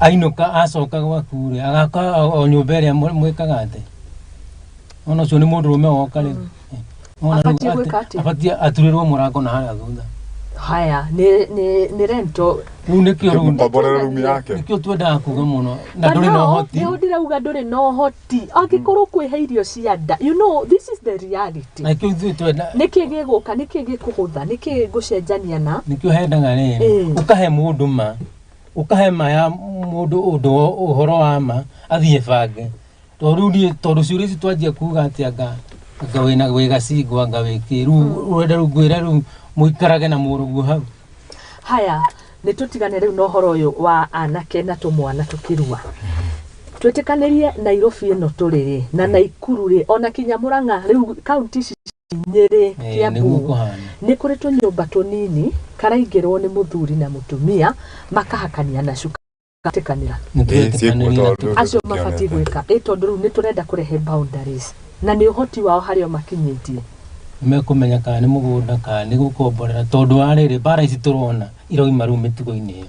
A: ainũka acoka gwaku rĩ agaka o- o nyũmba ĩrĩa mwe- mwĩkaga atĩ ona ũcio nĩ mũndũ rũme woka rĩ Eh, wona rĩu Abatiĩ atĩ- gwĩka atĩa? abatiĩ aturĩrwo mũrango na harĩa thutha haya nĩ
B: nĩ nĩ rento rĩu nĩkĩo rĩu
A: Mũkomborere rumu
C: yake. nĩkĩo twendaga kuga
A: mũno na ndũrĩ na ũhoti nĩho ndĩrauga ndũrĩ na
B: ũhoti angĩkorwo kwĩhe irio cia nda you know this is the reality na kĩu ithuĩ twenda
A: nĩkĩ gĩgũka nĩkĩ
B: gĩkũhũtha nĩkĩ ngũcenjania na nĩkĩo hendaga rĩrĩ
A: Eh. ũkahe mũndũ ma ũkahe ma ya mũndũ ũndũ ũhoro wa ma athiĩ bange tondũ rĩu niĩ tondũ ciũria ici twanjia kuga atĩ anga anga wĩna wĩ gacingo anga wĩkĩ rĩu ũrenda rĩu ngwĩra rĩu mũikarage na mũrũguo hau haya
B: nä tå tigane rä u na å horo å yå wa anake na tå mwana tå kä rua twä tä kanä rie nairobi ä no tå rä rä na naikuru rä ona kinya må rang'a rä u kaunti ici nyĩrĩ Eh, nĩguo kĩambu kũhana nĩ kũrĩ tũnyũmba tũnini karaingĩrwo nĩ mũthuri na mũtumia makahakania na cuka gatikanĩra nĩ twetĩkanĩria na tũ- acio mabatiĩ gwĩka ĩ tondũ rĩu nĩ tũrenda kũrehe boundaries na nĩ ũhoti wao harĩa makinyĩtie mekũmenya
A: kana nĩ mũgũnda kana nĩ gũkomborera tondũ wa rĩrĩ mbara ici tũrona irauma rĩu mĩtugo-inĩ ĩyo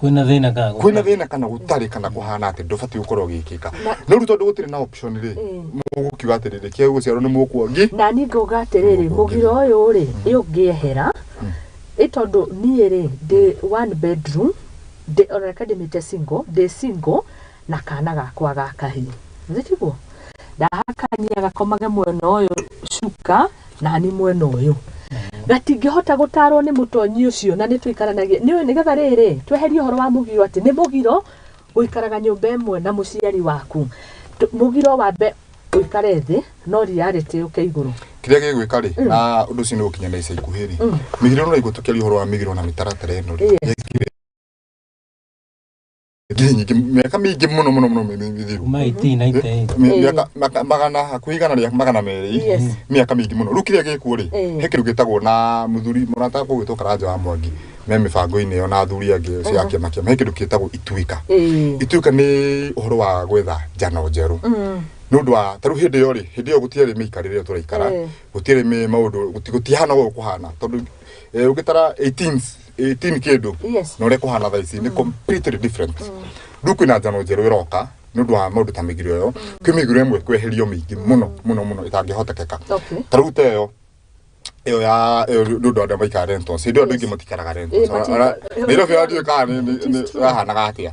C: kwĩna
B: thĩna kana gũtarĩ? kwĩna
A: thĩna kana gũtarĩ
C: kana kũhana atĩ ndũbatiĩ gũkorwo ũgĩkĩka no rĩu tondũ gũtirĩ na option rĩ mũgũkiuga atĩrĩrĩ kĩu gũciarwo nĩ mũkuongi na niĩ ngauga atĩrĩrĩ
B: mũgira ũyũ rĩ ĩ ũngĩehera ĩ tondũ niĩ rĩ ndĩ one bedroom ndĩ onareka ndĩmĩte single ndĩ single na kana gakwa ga kahĩĩ njiguo ndahakania gakomage mwena ũyũ cuka nani mwena ũyũ gatingĩhota gũtarwo nĩ mũtonyi ũcio na nĩ tũikaranagia nĩ nĩgetha rĩrĩ tweherie ũhoro wa mũgiro atĩ nĩ mũgiro gũikaraga nyũmba ĩmwe na mũciari waku Tũ- mũgiro wambe ũikare thĩ no reality ũke igũrũ kĩrĩa gĩgwĩka rĩ
C: na ũndũ ũcio nĩ gũkinya na ica ikuhĩ rĩ mĩgiro no igũtũkĩria ũhoro wa mĩgiro na mĩtaratara ĩno rĩ Yes. Gĩthii nyingĩ mĩaka mĩingĩ mũno mũno mũno mĩ- mĩ- mĩthiru kuma 1898 Mĩ- mĩaka maka- magana hakuhĩ igana rĩa magana merĩ Yes. mĩaka mĩingĩ mũno rĩu kĩrĩa gĩkuo rĩ Eh. he kĩndũ gĩtagwo na mũthuri mũrata kũu gĩtwo karanja wa mwangi me mĩbango-inĩ ĩyo na athuri angĩ cia kĩama kĩama he kĩndũ gĩtagwo ituĩka Eh. ituĩka nĩ ũhoro wa gwetha njano njerũ Mm. nä å ndå wa tarä u hä ndä ä yo rä hä ndä ä yo gå tiarä mä ikarä rä a tå raikara Eh. gå tiarä mä maå ndå gå tihana å gå kå hana tondå å ngä tara 18 18 kindu Yes. na uria kuhana thaa ici ni completely different riu kwina njano njeru iroka ni undu wa maundu ta migiro iyo kwi migiro imwe kweherio mingi muno muno muno itangihotekeka Okay. ta riu teyo iyo ya iyo ni undu andu maikara rentals hindi andu ingi matikaraga rentals Eh, mati- Ara- Nairobi andu ikara ni- ni- ni- rahanaga atia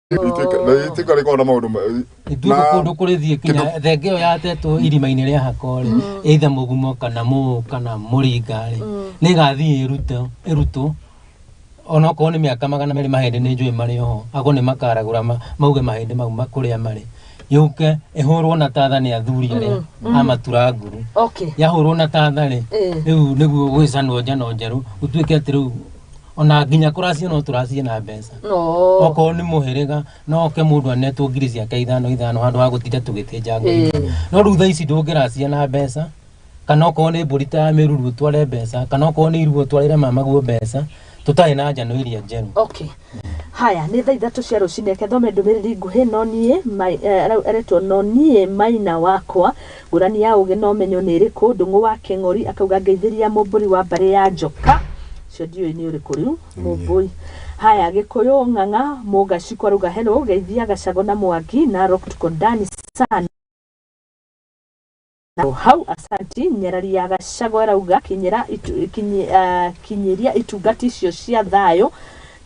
C: itĩka rĩkorwo na maũndũ ma- ithuĩ na- kũndũ
A: kũrĩ thiĩ kinya kĩndũ- thenge ĩyo yatetwo irima-inĩ rĩa hakore eitha mũgumo kana mũũ kana mũringarĩ nĩ ĩgathiĩ ĩrute ĩrutwo ona okorwo nĩ mĩaka magana merĩ mahĩndĩ nĩ njũĩ marĩ oho akorwo nĩ makaragũra ma- mauge mahĩndĩ mau ma- kũrĩa marĩ yũke ĩhũrwo na tatha nĩ athuri arĩa a matura nguru okay yahũrwo na tatha rĩ Eh. rĩu nĩguo gwĩcanwo njano njerũ gũtuĩke atĩ rĩu ona nginya kũracia no tũracie na mbeca no okorwo nĩ mũhĩrĩga no oke mũndũ anetwo ngiri ciake ithano ithano handũ ha gũtinda tũgĩtĩnja ngiri Ĩĩ. ithano. no rĩu thaa ici ndũngĩracia na mbeca kana okorwo nĩ mbũri ta ya mĩruru ũtware mbeca kana okorwo nĩ iruo ũtwarĩre mamaguo mbeca tũtarĩ na njano iria njerũ okay haya nĩ
B: thaa ithatũ cia rũcinĩ reke thome ndũmĩrĩri nguhĩ no niĩ Mai- eh, arau- aretwo no niĩ maina wakwa Ngũrani ya ũgĩ na ũmenyo nĩ ĩrĩkũ? Ndũng'ũ wa Kĩng'ori akauga ngeithĩria mũmbũri wa mbarĩ ya njoka. Ũcio ndiũĩ nĩ ũrĩkũ rĩu. Mũmbũi. Haya, Gĩkũyũ, Ng'ang'a, Mũgacikũ arauga hello, geithia Gacagũ na Mwangi, Narok tuko ndani sana. O hau, asanti. Nyarari ya Gacagũ arauga kinyĩra itu, kinyi, ah, kinyĩria itungati icio cia thayũ.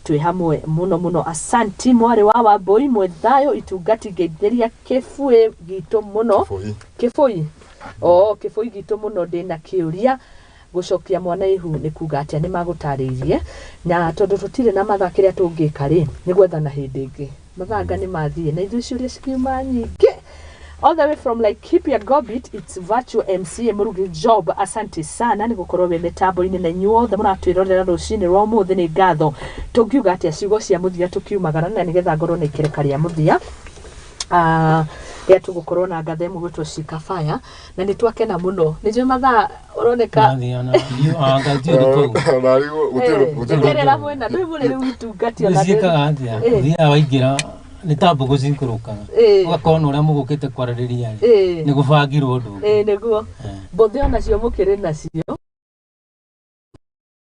B: Twĩ hamwe mũno mũno. Asanti mwarĩ wa Wambũi mwĩ thayũ itungati ngeithĩria kĩbuĩ gitũ mũno. Kĩbũi. Kĩbũi. Oo, kĩbũi gitũ mũno ndĩ na kĩũria gũcokia mwana ihu nĩ kuga atĩa nĩ magũtarĩirie na tondũ tũtirĩ na mathaa kĩrĩa tũngĩka rĩ nĩ gwethana hĩndĩ ĩngĩ Mathanga nĩ mathiĩ na ithuĩ ciũria cikiuma nyingĩ. All the way from like keep your gobit it's virtual MCA Murugi Job asante sana nĩ gukorwo we mitambo-inĩ na inyuĩ othe mũratwĩrorera rũcinĩ rwa ũmũthĩ nĩ ngatho tũngiuga atĩa ciugo cia mũthia tũkiumagara na nĩgetha ngorwo na ikereka rĩa mũthia uh, rĩa tũgũkorwo na ngatho ĩmwe gwĩtwo Shika Fire na nä twakena må no nä njå mathaa å roneka Nathi ona you anga ti uri kau. Nari gutire gutire nderera mwena ndå må rä rä witungati ona ndä- Nisiekaga atia. Eh. Thia
A: waingira ni ta mbugu cinkurukaga. Eh. Ugakona uria mugukite kwaririria ri. Eh. Ni gubangirwo undu. Ĩĩ, nĩguo Eh.
B: mbũthĩ onacio mũkĩrĩ nacio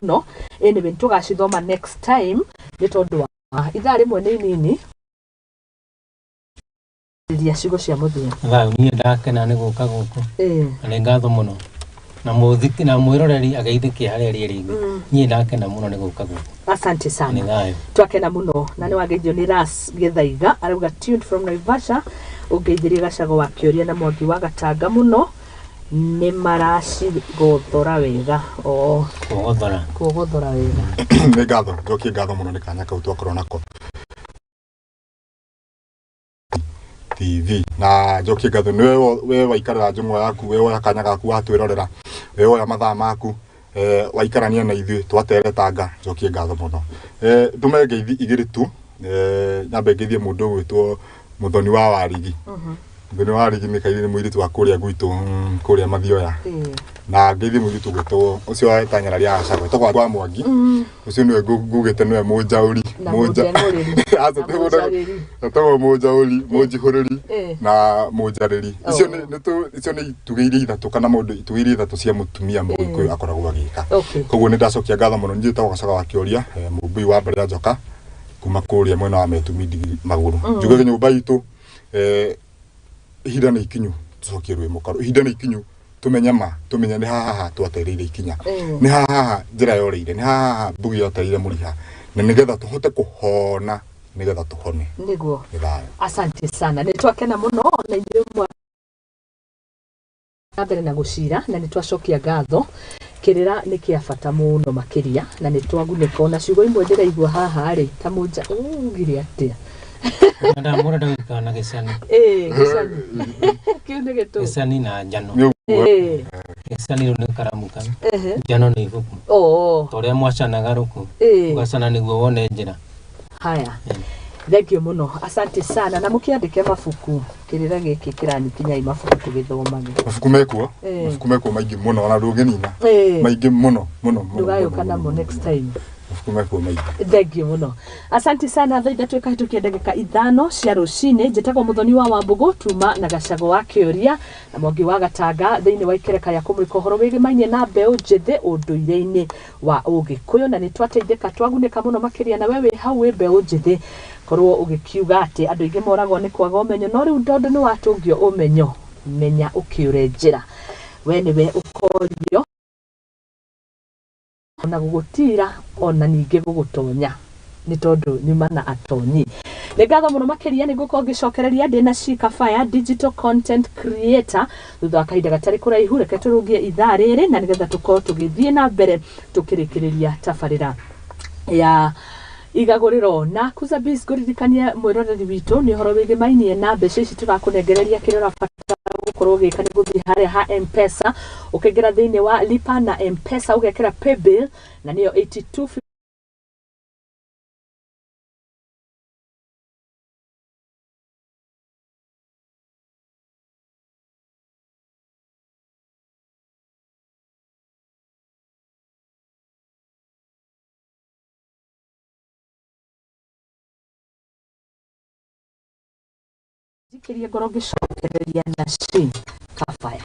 B: mũno anyway tũgacithoma next time nĩ tondũ wa ithaa rĩmwe nĩ inini ria ciugo cia mũthia thau niĩ ndakena
A: nĩ gũka gũkũ na nĩ ngatho mũno na mũthiki na mwiroreri ageithĩke harĩa rĩrĩ inĩ mm. niĩ ndakena mũno nĩ gũka gũkũ asante sana
B: twakena mũno na nĩ wageithio nĩ ras gĩthaiga arauga tuned from naivasha ũngeithĩrie gacago wa kĩũria na mwangi wa gatanga mũno nĩ maracigothora wega oo Kũgothora. kũgothora wega nĩ ngatho njokie
C: ngatho mũno nĩ kanya kau twakorwo nako tv na njokie ngatho nĩ we- we waikarĩra njũng'wa yaku we woya kanya gaku watwĩrorera we woya mathaa maku Eh, waikarania na ithuĩ twateretanga njokie ngatho mũno Eh, ndũme ngeithi igĩrĩ tu Eh, nyambe ngeithie mũndũ ũgwĩtwo mũthoni wa warigi mũthoni wa warigi nĩ kairĩ nĩ mũirĩtu wa kũrĩa gwitũ mm, kũrĩa mathioya na ngeithi mũirĩtu ũgwĩtwo ũcio wetanyara rĩa acagwe togwa kwa mwangi ucio niwe ngugite niwe munjauri Na mũnjanũrĩri. Na mũnjarĩri. atagwo munjauri munjihuriri Eh. na munjariri Oh. icio nĩ nĩ tu- icio nĩ itugĩ iria ithatũ kana maũndũ itugĩ iria ithatũ cia mũtumia mũgĩkũyũ akoragwo agĩka Okay. koguo nĩ ndacokia ngatho mũno niĩ tagwo gacoka wa kĩũria eh, mũmbui wa mbarĩ ya njoka kuma kũrĩa mwena wa metumi ndigi magũrũ njuge nyũmba itũ eh, ihinda nĩ ikinyu tũcokie rwĩmbo karũ ihinda nĩ ikinyu tũmenya ma tũmenya nĩ haha haha twatereire ikinya Mm. nĩ haha haha njĩra yoreire nĩ haha haha mbugi yotereire mũriha na nĩgetha tũhote kũhona nĩgetha tũhone nĩguo nĩ thayũ
B: asante sana nä twakena må no na inyuä mwa na mbere na gå cira na nä twacokia ngatho Kĩrĩra nĩ kĩa bata mũno makĩria na nĩ twagunĩka ona ciugo imwe ndĩraigua haha rĩ ta mũnja ũgire atĩa Madam,
A: mũndũ ndagĩkaga na gĩcani. Ĩĩ, gĩcani.
B: kĩu nĩ gĩtũ Gĩcani na njano.
A: Ĩĩ, Gĩcani rĩu nĩ karamu kau. ehe. Njano nĩ ibuku. Oo, Ta ũrĩa mwacanaga rũkũ. ĩĩ. Ũgacana nĩguo wone njĩra. haya
B: thengio mũno asante sana na mũkĩandĩke mabuku kĩrĩra gĩkĩ kĩranyikinya ĩ mabuku tũgĩthomage mabuku mekuo
C: Eh. mabuku mekuo maingĩ mũno ona ndũngĩnina Eh. maingĩ mũno mũno mũno, ndũgayũka mũno, namo
B: mũno, next mũno. time mabuku mekuo maingĩ thengiå må no asanti sana thaa ithatå ĩkahätå kia ndagä ka ithano cia rå cinä njä tagwo må thoni wa wambågå tuma na gacagå wa kä å ria na mwangi wa gatanga thä inä wa ikereka rä a kå må rä ka å horo wä gä mainie na mbeå njä thä å ndå irä-inä wa ũgĩkũyũ na nĩtwateithĩka twagunĩka mũno makĩria na we wĩ hau wĩ mbeũ njĩthĩ korwo ũgĩkiuga atĩ andũ aingĩ moragwo nĩ kwaga ũmenyo no rĩu tondũ nĩwatũngio ũmenyo menya ũkĩũre njĩra we nĩwe ũkorio na gũgũtiira ona ningĩ gũgũtonya. nĩ tondũ nyuma na atonyi nĩ ngatho mũno makĩria nĩ ngũkorwo ngĩcokereria ndĩ na Shika Fire digital content creator thutha wa kahinda gatarĩ kũraihu reke tũrũgie ithaa rĩrĩ na nĩgetha tũkorwo tũgĩthiĩ na mbere tũkĩrĩkĩrĩria tabarĩra ya igagũrĩro na kuza biz ngũririkanie mwĩroreri witũ nĩ ũhoro wĩgiĩ mainie na mbeca ici tũrakũnengereria kĩrĩa ũrabatara gũkorwo ũgĩka nĩ gũthiĩ harĩa ha mpesa ũkaingĩra thĩinĩ wa lipa na mpesa ũgekĩra paybill na nĩyo 82 Njikĩrie ngoro ngĩcokereria na cĩ kabaya.